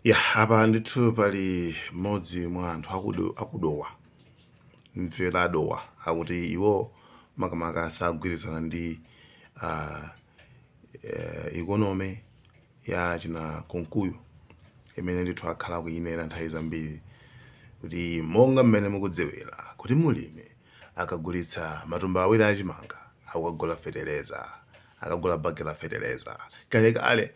Ya, apa ndithu pali mmodzi mwa anthu akudo, akudowa mvera adowa akuti iwo makamaka sagwirizana ndi uh, uh, economy ya achina Kunkuyu imene ndithu akhala akuyinena nthawi zambiri kuti monga mmene mukudziwira kuti mulimi akagulitsa matumba awiri a chimanga akukagula feteleza, akagula bagi la feteleza. Kalekale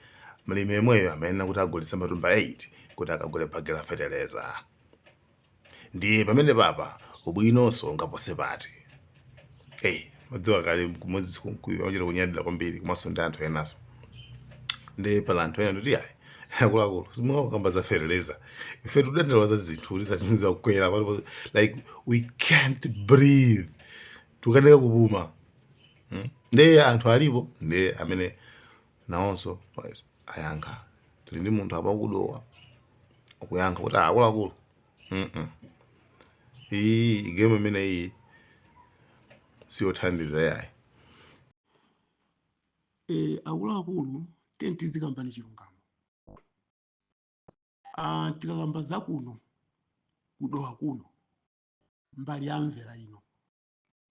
mlimi yemweyo amayenera kuti agulitse matumba 8 kuti akagule bagi la feteleza. Ndiye pamenepapa ubwinonso ungapose pati? Hey, madziwa kale kuti Moses Kunkuyu amachita kunyadira kwambiri komanso ndi anthu enanso. Ndiye pali anthu ena ndoti yayi akuluakulu simungakambe za fertilizer ife tudandaula za zinthu kuti zapitiriza kukwera like we can't breathe tukanika kupuma hmm? ndiye anthu alipo ndiye amene nawonso ayankha tili ndi munthu apa kudowa akuyankha kuti akuluakulu iyi game imene iyi siyothandiza yayi Eh, akuluakulu tiyeni tizikambani chilungamo ah, tikakamba za kuno kudowa kuno mbali ya mvera ino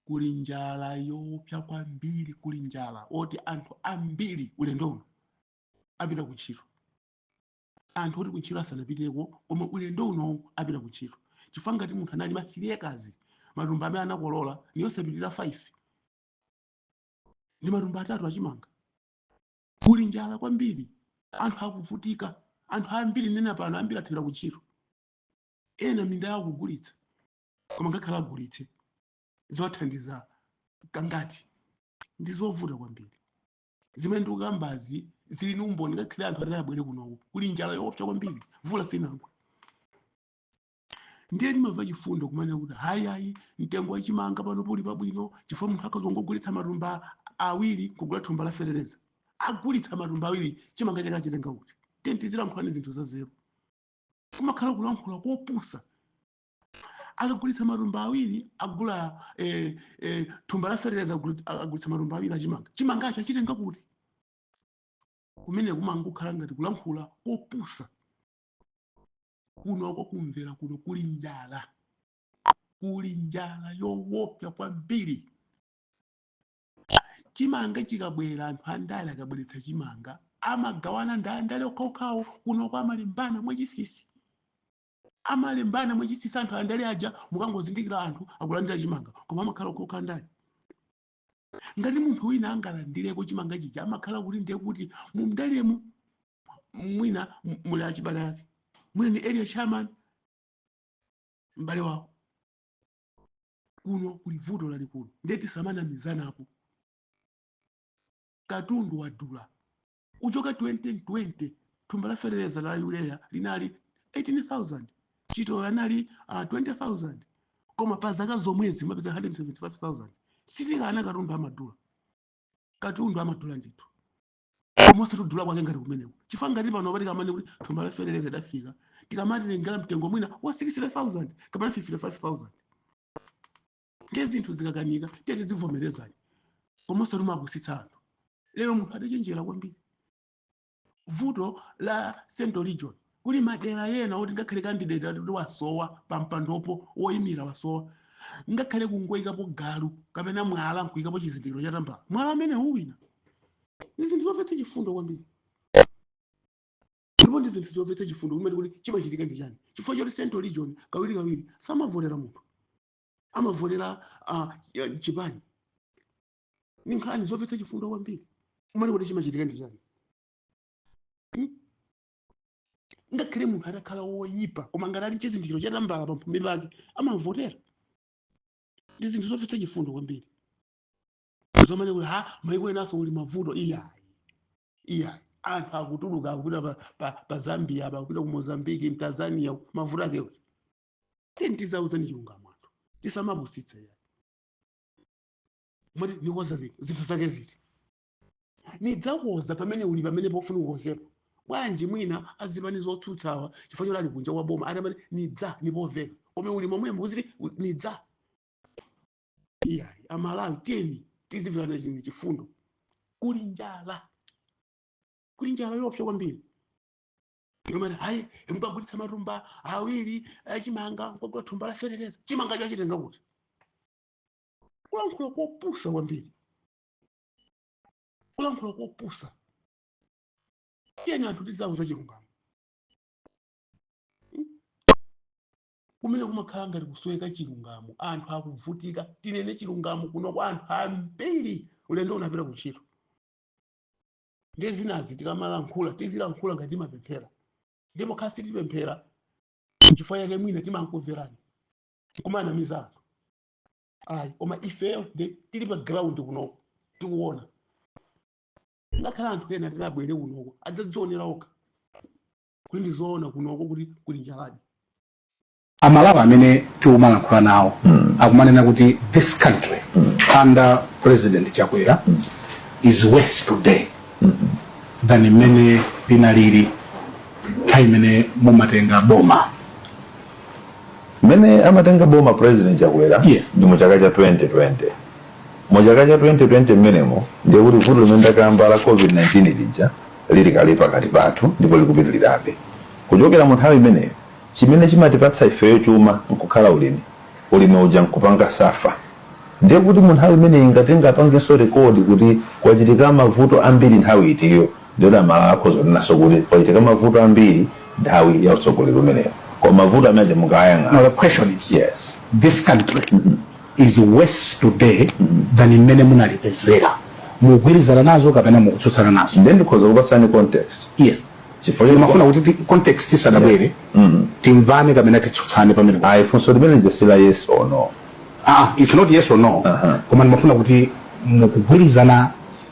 kuli njala yoopsa kwambiri kuli njala yoti anthu ambiri ulendo uno apita kuntchito anthu oti kuntchito asanapiteko koma ulendo uno apita kuntchito chifukwa ngati munthu analima 3 acres matumba amene anakolola niyosapitirira 5 ndi matumba atatu achimanga kuli njala kwambiri anthu akuvutika anthu ambiri nena pano ambiri athera kuntchito ena minda yawo kugulitsa koma ngakhale agulitse ziwathandiza kangati ndi zovuta kwambiri zimene ndikukambazi zili ni umboni ngakhale anthu atati abwere kunoko kuli njala yoopsa kwambiri mvula sinagwa ndiye ndimamva chifundo kumanena kuti hayi hayi mtengo wa chimanga pano uli pabwino chifukwa munthu akazingogulitsa matumba awiri kugula thumba la fetereza agulitsa matumba awiri chimanga chake achitenga kuti tiyeni tizilankhulani zinthu zanzeru kumakhala kulankhula kopusa akagulitsa matumba awiri agula eh, eh, thumba la fetereza aguli- agulitsa matumba awiri achimanga chimangacho achitenga kuti kumene kumangokhala ngati kulankhula kopusa kunoko kumvera kuno kuli njala kuli njala yowopsa kwambiri chimanga chikabwera anthu andale akabweretsa chimanga amagawana ndi andale okhaokhawo kunoko amalembana mwachinsinsi amalembana mwachinsinsi anthu andale aja mukangozindikira anthu akulandira chimanga koma amakhala okhaokha andale ngati munthu wina angalandireko chimanga chija amakhala kuti ndiye kuti mundalemu mwina m- muli achibale ake mwina ni area chairman m'bale wawo kuno kuli vuto lalikulu ndiye tisamanamizanapo katundu wadula kuchoka 2020 thumba la fetereza la urea linali 18000 chitowe anali uh, 20000 koma pa zaka zomwezi mumapeza 175000 sitikana katundu amadula katundu amadula ndithu koma osati kudula kwake ngati kumeneko chifukwa ngati panopa tikamanena kuti thumba la fetereza idafika tikamati lingala mtengo mwina wa 60000 kapena 55000 ndiye zinthu zikakanika tiye tizivomerezani koma osati kumapusitsa anthu lero munthu adachenjera kwambiri vuto la central region Kuli madera ena oti ngakhale candidate ati wasowa pampandopo, woimira wasowa, ngakhale kungoikapo galu kapena mwala nkuikapo chizindikiro cha tambala, mwala umenewo uwina. Ndi zinthu zomvetsa chifundo kwambiri. Ndipo ndi zinthu zomvetsa chifundo kumene kuti chimachitika ndi chani? Chifukwa choti central region kawirikawiri samavotera munthu, amavotera uh, chipani. Ndi nkhani zomvetsa chifundo kwambiri kumene kuti chimachitika ndi chani? Hmm? ngakhale munthu atakhala woyipa koma ngati ali chizindikiro cha tambala pamphumi pake amamvotera ndi zinthu zomvetsa chifundo kwambiri zomanena kuti ha maiko enanso kuli mavuto iyayi iyayi anthu akutuluka akupita pa, pa, pa zambia apa akupita ku mozambique mtanzania mavuto ake kuti tiyeni tizauzani chilungamo anthu tisamapusitse iyayi mwati ndikonza zinthu zinthu zake ziti nidzakonza pamene uli pamenepo ufuna ukonzepo bwanji mwina azipani zotsutsawa chifukwa choti ali kunja kwa boma atamati nidza nipomveka koma uli momwemo uziti u- nidza iyayi amalawi tiyeni tizimverana chini chifundo kuli njala kuli njala yoopsa kwambiri imene hayi mukagulitsa matumba awiri achimanga mukagula thumba la fetereza chimangacho achitenga kuti kulankhula kopusa kwambiri kulankhula kopusa tiyeni anthu tizauza chilungamo kumene kumakhala ngati kusoweka chilungamo anthu akuvutika tinene chilungamo kuno kwa anthu ambiri ulendo unapita kuntchito nde zinazi tikamalankhula tizilankhula ngati timapemphera ndipo kaya sitipemphera chifukwa chake mwina timankumverani kumanamiza anthu ayi koma ifeyo nde tili pa ground kunoko tikuona ngakhale anthu ena atati abwere kunoko adzadzionera okha kuti ndizoona kunoko kuti kuli njaladi amalawi amene tikumalankhula nawo akumanena kuti this country under president chakwera is worse today than mmene linalili nthawi imene mumalitenga boma Mmene amatenga boma president chakwera yes. ndi mu chaka cha 2020 mu chaka cha 2020 mmenemo ndiye kuti vuto limene ndakamba la covid-19 lija lili kale pakati pathu ndipo likupitirirabe kuchokera mu nthawi imeneyo chimene chimatipatsa ifeyo chuma nkukhala ulimi ulimi uja nkupanga safa ndiye kuti mu nthawi imeneyi mungathe kupanganso rekodi kuti kwachitika mavuto ambiri nthawi itiyo Ndiyeno a Malawi akhoza kunenanso kuti kwachitika mavuto ambiri nthawi ya utsogoleri umenewu. Koma mavuto amene aja mukawayang'ana. Now the question is, Yes. this country is worse today than mmene munalipezera. Mukugwirizana nazo kapena mukutsutsana nazo? Ndiye ndikhoza kupatsani context. Yes. Chifukwa choti- Ndimafuna kuti ti- context isadabwere, timvane kapena titsutsane pamene. Ayi, funso limene lija si la yes or no. Ah, it's not yes or no. Aha. Koma ndimafuna kuti mukugwirizana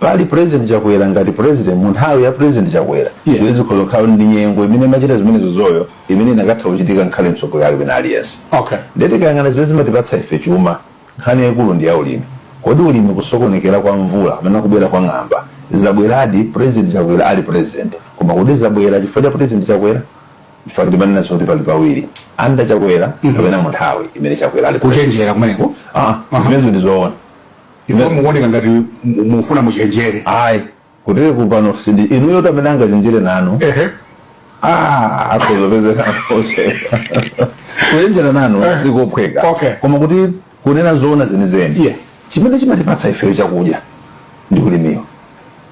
Pali president chakwera ngati president munthawi ya president chakwera Yeah. yeah. zikhoza kukhala ndi nyengo imene imachita zimenezozo imene zikanatha kuchitika angakhale mtsogoleri wina aliyense okay nde tikayang'ana zimene zimatipatsa ife chuma nkhani yaikulu ndi ya ulimi kodi ulimi kusokonekera kwa mvula kapena kubwera kwa ng'amba zabweradi president chakwera ali president koma kodi zabwera chifukwa cha president chakwera chifukwa kuti mumanena kuti pali pawiri under chakwera kapena munthawi imene chakwera ali president. kuchenjera kumeneko Ah, zimenezo ndi zoona Ifeyo mukuoneka ngati mu- mufuna muchenjere. ayi kutere kupano si ndi inuyo amene angachenjere nanu Ehe. Ah, akuzopezeka akose kuchenjera nanu sikophweka Okay. koma kuti kunena zoona zenizeni Yeah. chimene chimatipatsa ifeyo chakudya ndi ulimiwo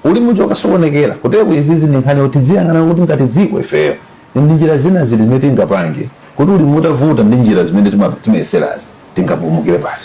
ulimi uja ukasokonekera ndiye kuti izizi ndi nkhani yoti tiziyang'ana kuti ngati dziko ifeyo ndi njira zina ziti zimene tingapange kuti ulimi utavuta ndi njira zimene tima- timayeserazi tingapulumukire pati